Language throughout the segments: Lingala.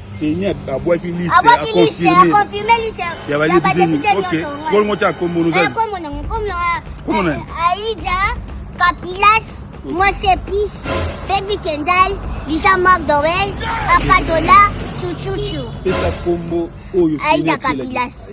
Seigneur abwaki liste a confirmer ya ba député ni OK sikoyo ngo ta kombo nous a kombo na kombo na kombo na Aida Kapilas Mose Pis Baby Kendall Lisa Magdowell Akadola Chuchuchu pesa kombo oyo Aida Kapilas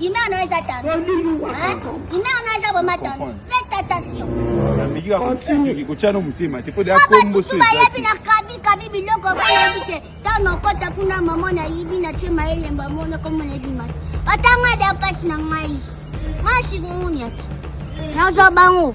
Ina na eza tandu. Hein? Ina na eza vraiment tandu. Faites attention. Na miki ka continue ki kochana mutema te po de akombo so. Ba yebi na kabi kabi biloko ko yebi te. Tano kota kuna mama na yibi na chema elemba mona ko mona bi mata. Batanga da pasi na ngai. Mashi ngunyati. Nazo bango.